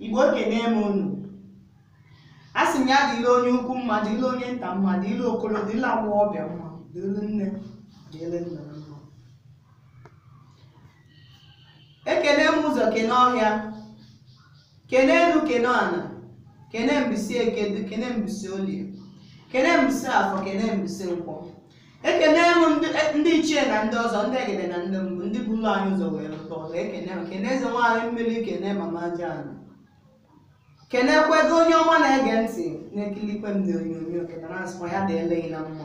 igbo ekene m unu a sị m ya dịlị onye ukwu mma dịlị onye nta mma dịlị okoro dịlị nwa ọbịa mma dịlị nne dịlị nna mma ekene m ụzọ kene ọhịa kene elu kene ala kene mbọsị eke du kene mbọsị olie kene mbọsị afọ kene mbọsị nkwọ ekene m ndị- e- ndị ichie na ndị ọzọ ndị egede na ndị mbụ ndị buru anyị ụzọ wee lụta ọzọ ekene m kene eze nwaanyị mmiri kene mama jana kenekwuo onye ọbụla na-ege ntị na-ekilikwe m na onyonyo kene na-asịkwa ya dịlị gị na mma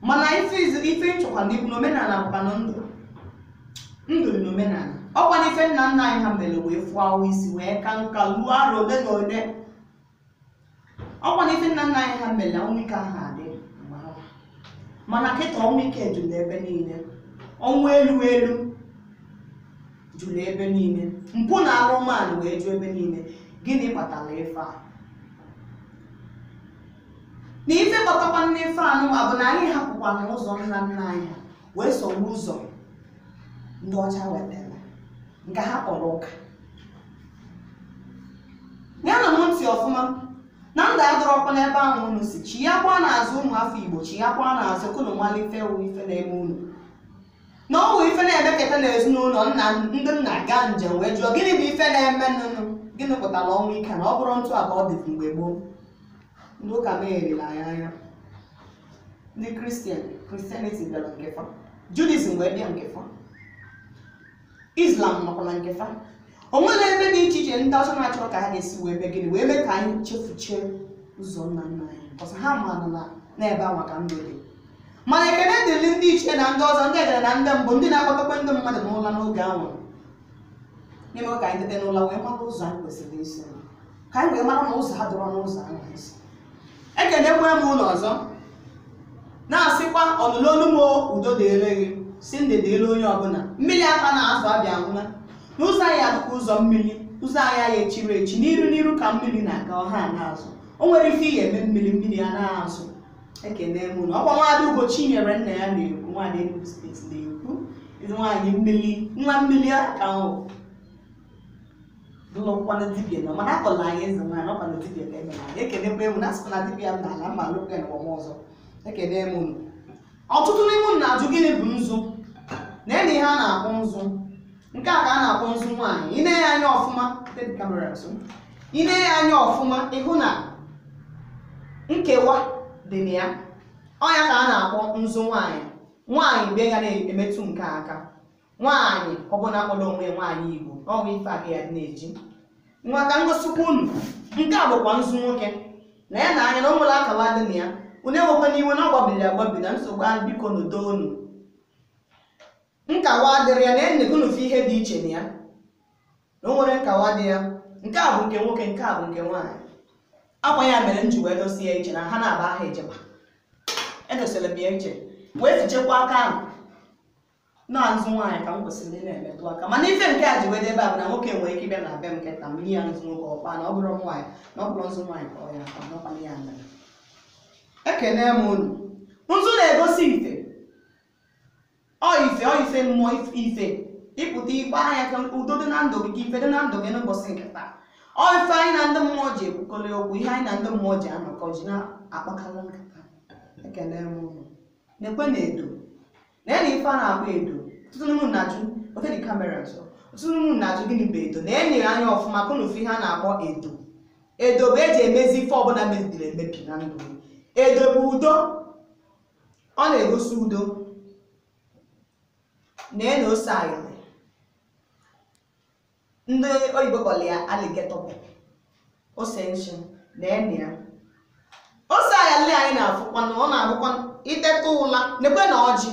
mana ife izu ife ịchọkwa n'ikwu na omenala bụkwa na ndụ ndụ dị n'omenala ọkwa na ife nna nna anyị ha mere wee fuo awọ isi wee ka nka ruo arọ ole na ole ọkwa na ife nna nna anyị ha mere ọnwụ ike aha adị mgbe ahụ. mana kịta ọnwụ ike jụrụ n'ebe niile ọnwụ elu elu jụrụ ebe niile mpụ na arụrụala wee jụ ebe niile gịnị kpatara ife a na ife kpatakwanụ ife anụwa bụ na anyị hapụkwana ụzọ nna nna anyị ha wee soro ụzọ ndị ọcha wetara nke ha kpọrọ ụka ṅaanụ m ntị ọfụma na ndụ adịrọkwa n'ebe ahụ unu sị chighakwanụ azụ ụmụ afọ igbo chighakwanụ azụ ka unu malụ ife bụ ife na-eme unu na ọ bụ ife na-emeketa n'ezinụlọ nna ndị nna gaa njem wee jụọ gịnị bụ ife na-emenụ gịnị kpatara ọnwụ ike na ọ bụrọ etu a ka ọ dị mgbe gboo ndị ụka megherila anyị anya ndị christian christianity bịara nke fa judaism wee bịa nke fa islam nọkwa na nke fa o nwere ebe dị iche iche ndị ọcha na-achọrọ ka ha ga-esi wee mee gịnị wee mee ka anyị chefuchie ụzọ nna nna anyị ọsọ ha maara na n'ebe anwa ka ndụ dị mana ekele dịrị ndị ichie na ndị ọzọ ndị egede na ndị mbụ ndị na-akpọtekwa ndị mmadụ n'ụla n'oge ahụ na-eme ka anyị teta n'ụla wee mara ụzọ anyị kwesịrị isi ka anyị wee mara na ụzọ adịrọ n'ụzọ ahụ nsọ ekenekwa m unu ọzọ na-asịkwa ọnụlụ olu m udo dịrị gị sị ndụ dịrị onye ọbụla mmiri aha ana azụ abịa nwụla n'ụzọ anyị adịka ụzọ mmiri ụzọ anyị anyị echiro echi n'iru n'iru ka mmiri na-aga ọ ha ana azụ o nwerọ ife ị ga-eme mmiri mmiri ana azụ ekene m unu ọkwa nwaada ugochinyere nna ya na-ekwu nwaada Enugu steeti na-ekwu nwaanyị mmiri nwa mmiri aka ahụ n'ụlọ nkwado dibia nọ mana akpọla anyị eze nwaanyị ọ kwado dibia ka emere anyị ekenekwa emu na asụkwa na dibia m n'ala mma alụkwa ya n'ụwa m ọzọ ekene m unu ọtụtụ n'ime unu na-ajụ gịnị bụ nzu na-ene ihe a na-akpọ nzu nke a ka a na-akpọ nzu nwaanyị ị nee ya anya ọfụma take the camera nso ị nee ya anya ọfụma ị hụ na nkewa dị na ya ọ ya ka a na-akpọ nzu nwaanyị nwaanyị be ya na-emetụ nke a aka nwaanyị ọbụla kpọrọ onwe ya nwaanyị igbo n'ọnwa ife aka ya dị na-eji nwa ka m gosikwa unu nke a bụkwa nzu nwoke na-ene anya na o nwerọ nkawa dị na ya unu ewekwana iwe na ọ gbabiri agbabi na nsogbu ahụ biko ndo nụ nkawa adịrọ ya na-ene unu fụ ihe dị iche na ya na o nwerọ nkawa dị ya nke a bụ nke nwoke nke a bụ nke nwaanyị ọ kwa ya mere m ji wee dosie ya iche na ha na-aba aha ejekwa edosere m ya iche wee fichakwa aka ahụ nzu nwaanyị ka m kwesịrị ị na-emetụ aka mana ife nke a ji wee dị ebe a bụ na nwoke nwere ike ịbịa na be m kịta m nye ya nzu nwoke ọ kpaa na ọ bụrụ nwaanyị na ọ bụrụ nzu nwaanyị ka ọ ya akpa n'ọkpana ya mere ekene m unu nzu na-egosi ife ọ ife ọ ife mmụọ if- ife ịpụta ikpe anya ka udo dị na ndụ gị ka ife dị na ndụ gị n'ụbọchị nke taa ọ ife anyị na ndị mmụọ ji ekwukọrị okwu ihe anyị na ndị mmụọ ji anọkọ ji na-akpakọrị nkata ekene m unu nekwene edo na-ene ife a na-akpọ edo ọtụtụ n'ime unu na-ajụ oke dị kamera nso ọtụtụ n'ime unu na-ajụ gịnị bụ edo na-ene anya ọfụma ka unu fụ ihe a na-akpọ edo edo bụ eji emezi ife ọbụla mebiri emebi na ndụ gị. edo bụ udo ọ na-egosi udo na-ene ose ayali ndị oyibo kpọrọ ya alligator pepper ose nsọ na-ene ose ayali anyị na-afụkwa na ọ na-abụkwa i teta ụla nekwene ọjị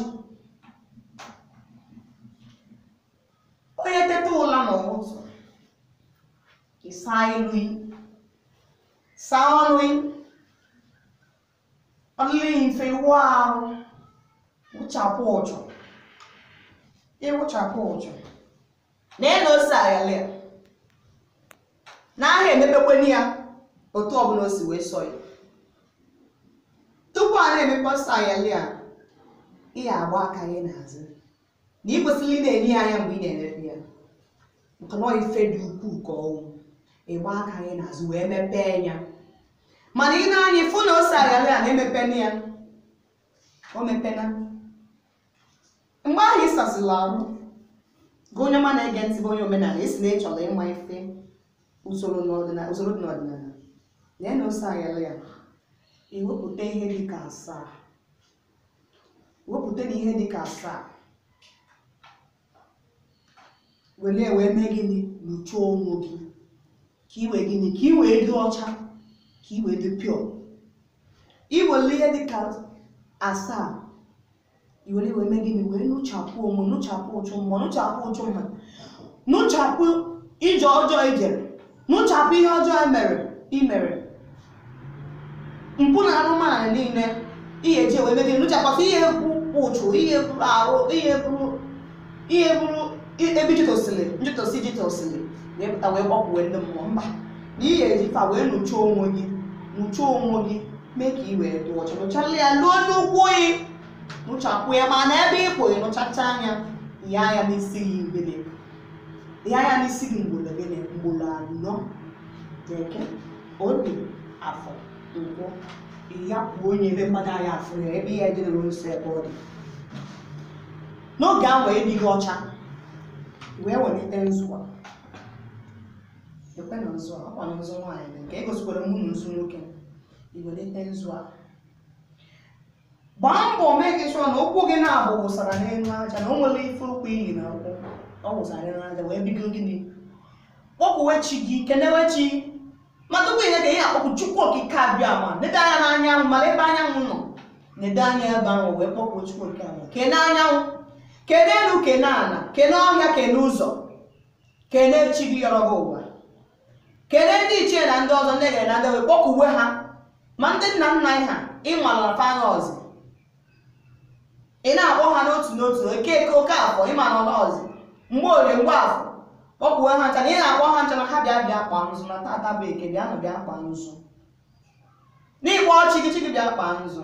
onye teta ụla n'ụtụtụ ị saa iru yi saa ọnụ yi ọ dịghị mfe ịwụ ahụ wụchapụ ụjụ ịwụchapụ ụjụ na-ene ose ayala a naha emepekweni ya otu ọbụla o si wee sọ ya tupu a na-emepe ose ayala ị ya-agba aka gị n'azụ na ị kwesịrị ị na-ene ya anya mgbe ị na-emepe ya maka na ọ ife dị ukwuu ka ọ bụ ị gba aka yị n'azụ wee mepee ya mana ị nee anya ị fụ na ose ayala na emepena ya o mepena mgbe ahụ ị sasịla arụ gị onye ọma na-ege ntị bụ onye omenala ị sị na ị chọrọ ịma ife usoro n'ọdịnala usoro dị n'ọdịnala na-ene ose ayala i wepụta ihe dị ka asaa wepụta na ihe dị ka asaa were ya wee mee gịnị nụchaa onwe gị ka i wee gịnị ka i wee dị ọcha ka i wee dị pure i were ihe dị ka asaa i were wee mee gịnị wee nụchapụ onwe nụchapụ uchu mma nụchapụ uchu mma nụchapụ ije ọjọọ i jere nụchapụ ihe ọjọọ e mere i mere mpụ na arụrụala niile ihe ji wee mebie nụchakwasị ihe bụ uchu ihe bụrụ arụ ihe bụrụ ihe bụrụ ebe jitosili njitosi jitosili wee pụta wee kpọkwuwe ndị mmụọ mba na ihe eji fa wee nụcha onwe gị nụcha onwe gị mee ka i wee dị ọcha nụchala ya luo n'ụkwụ gị nụchapụ ya mana ebe ị pụghị nụchacha anya ya ya n'isi gị ibele ya ya n'isi gị mgbolo gịnị mgbolo anọ eke orie afọ nkwọ ya kwuo onye ebe mmadụ anyị afụ ya ebe ya edere nso ebe ọ dị n'oge ahụ adịghị ọcha wee welite nzu a ekwe na nzu a ọkwa na nzu nwaanyị dị nke egosikwara m unu nzu nwoke i welite nzu a gbaa mbọ make sure na ụkwụ gị na-abụ wụsara n'elu aja na o nwere ife ụkwụ i yi na ụkwụ ọ wụsara n'elu aja wee bido gịnị kpọkwuwe chi gị kenewe chi ma tupu ihe ka ihe akpọkwu chukwu okike abịama nede anya n'anyanwụ mara ebe anyanwụ nọ nede anya ebe ahụ wee kpọkwuo chukwu okike abịama kene anyanwụ kene elu kene ala kene ọhịa kene ụzọ kene chi gị yọrọ gị ụwa kelee ndị ichie na ndị ọzọ ndị egede na ndị wee kpọkuwe ha ma ndị nna nna anyị ha ị malụ afa nọzi ị na-akpọ ha n'otu n'otu okeke okeafọ ị ma na ọ nọzi mgborie mgbafọ kpọkuwe ha ncha na ị na-akpọ ha ncha na ha bịa bịa kpaa nzu na taata bụ eke bịanụ bịa kpaa nzu na ị kpọọ chi gị chi gị bịa kpaa nzu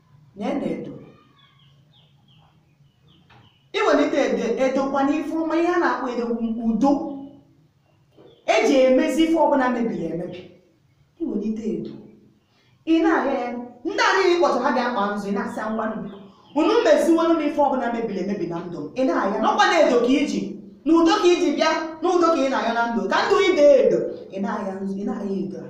nene edo i welite edo edokwa n'ife ọma ihe a na-akpọ edo bụ udo eji emezi ife ọbụla mebiri emebi i welite edo ị na-ahịa ya ndị a niile ị kpọtụ ha bịa kpa nzu ị na-asị ngwanụ unu meziwere m ife ọbụla mebiri emebi na ndụ m ị na-ahịa n'ọkwa na edo ka i ji na udo ka i ji bịa na udo ka ị na-ayọ na ndụ ka ndụ ide edo ị na-ahịa nzu ị na-ahịa edo a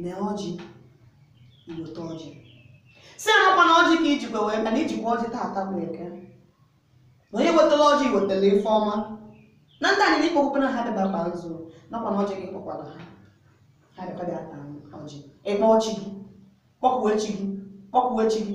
mee ọjị i weta ọjị sị ha na ọkwa na ọjị ka i jikwa wee bịa na i jikwa ọjị taata bụ eke na onye wetara ọjị wetara ife ọma na ndị a niile ị kpọkuwere ha bịa bịa kpa nzu na ọkwa na ọjị ka ị kpọkwara ha ha bịakwa bịa taa ọjị ị kpọọ chi gị kpọkwuo chi gị kpọkwuo chi gị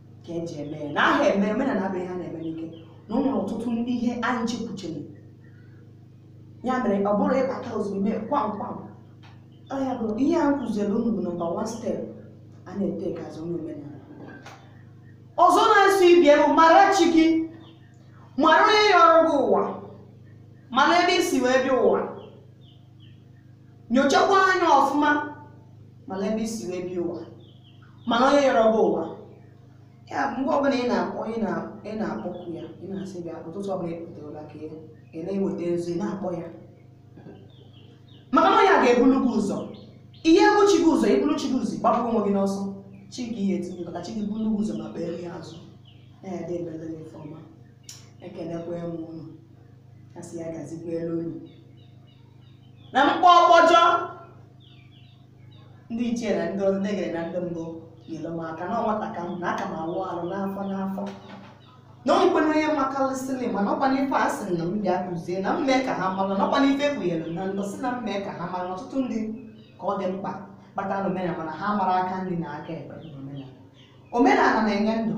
ka eji eme ya na aha eme omenala abụghị ha na-eme n'ike na o nwere ọtụtụ ndị ihe anyị chekwuchiri ya mere ọ bụrụ ịbata ozugbo ime kwam kwam ọ ya bụ ihe a kụziere unu bụ nọmba wan step a na-etake as onye omenala ọzọ na-eso ibe ya bụ mara chi gị mara onye yọrọ gị ụwa mara ebe i si wee bịa ụwa nyochakwa anya ọfụma mara ebe i si wee bịa ụwa mara onye yọrọ gị ụwa ya mgbe ọbụla ị na-akpọ ị na- ị na-akpọku ya ị na-asị bịa ụtụtụ ọbụla ị pụtara ka ị- ị na-eweta ọjị ị na-akpọ ya maka na onye a ga-ebulu gị ụzọ ị ya-ebu chi gị ụzọ i bulu chi gị ụzọ gbagbuo onwe gị n'ọsọ chi gị ihe etinye maka chi gị bulu gị ụzọ ma kpere ya azụ na-edebele gị ife ọma ekelekwa m unu asị ya gazikwaalụ unu na mkpọ ọkpọjọ ndị ichie na ndị egede na ndị mbụ nyere m aka na ọ nwata ka m na aka m awụ arụ n'afọ n'afọ na ọ nkwe n'onye makalịsịlị mana ọkwa n'ife a sị na m bịa kụzie na m mee ka ha mara na ọkwa n'ife ekpughere na ndụ si na m mee ka ha mara na ọtụtụ ndị ka ọ dị mkpa ịbata na omenala mana ha mara aka nri na aka ekpe na omenala omenala na-enye ndụ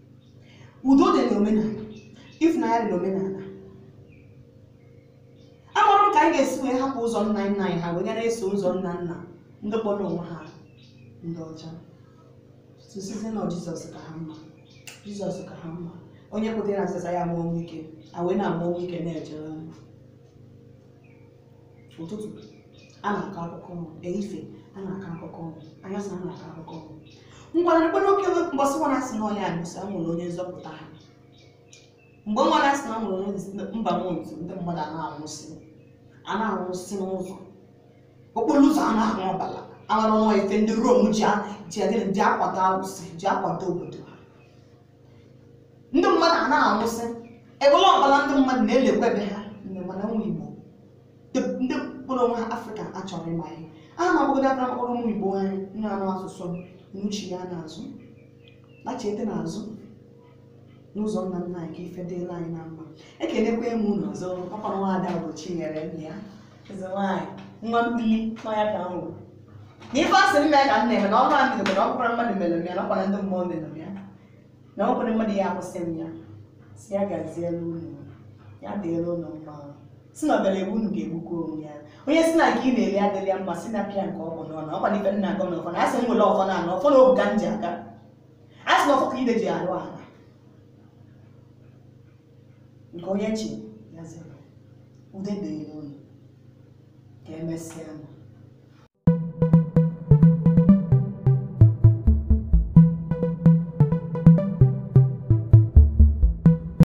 udo dị n'omenala ịfụnanya dị n'omenala amarọ m ka anyị ga-esi wee hapụ ụzọ nna nna anyị ha wee gara eso ụzọ nna nna ndị kpọrọ onwe ha ndị ọcha sịsịzị na jizọs ka ha mma jizọs ka ha mma onye kwetara na jizọs ya anwụ ọnwụ ike a wee na-anwụ ọnwụ ike na-ejere ụtụtụ a na-akọ akụkọ ọnwụ ehihie a na-akọ akụkọ ọnwụ anyasị a na-akọ akụkọ ọnwụ ngwara mgbe n'oke mgbasị nwa na-asị na ọ ya nwụsịa e nwere onye nzọpụta ha mgbe nwa na-asị na a nwere onye nz- mba m otu ndị mmadụ a na-anwụsị a na-anwụsị n'ụzọ okporo ụzọ a na-ahụ ọbara amara nwa ife ndị rom ji a- ji agịnị ji akwado awụsị ji akwado obodo ha ndị mmadụ a na-anwụsị ewele ọbara ndị mmadụ na-elekwa ebe ha mgbe mana ụmụ igbo ndị- ndị kpọrọ onwe ha afrịka achọrọ m ịma ihe aha ma bụgodị aka mkpọrọ ụmụ igbo anyị na-anụ asụsụ n'uche ya n'azụ lachete n'azụ n'ụzọ nna nna anyị ka ife dịla anyị na mma ekelekwa m unu ọzọ ọkwa nwa ada bụ chinyere nna ya Eze nwaanyị, nwa mmiri n'ọya ka m wụ. Na ife asị m mee ka m na-eme na ọrụ a m bidoro na ọ bụkwara mmadụ mere m ya na ọkwara ndị mmụọ mere m ya na ọ bụkwara mmadụ ya akwụsị m ya si ya gaziere unu ya dịrị unu mma si na ọbịara egbu unu ga-egbukwa onwe ya onye si na nke ị na-eri adịrị ya mma si na pịa nke ọ bụ n'ọnụ ọkwa na ife m na-agọ na ọfọ na asị m nwere ọfọ na anọ ọfọ na ogu ka m ji aga asị na ọfọ ka ide ji arụ ala nke onye chi ya zere udo dịrị ụnụ ka emesịa nụ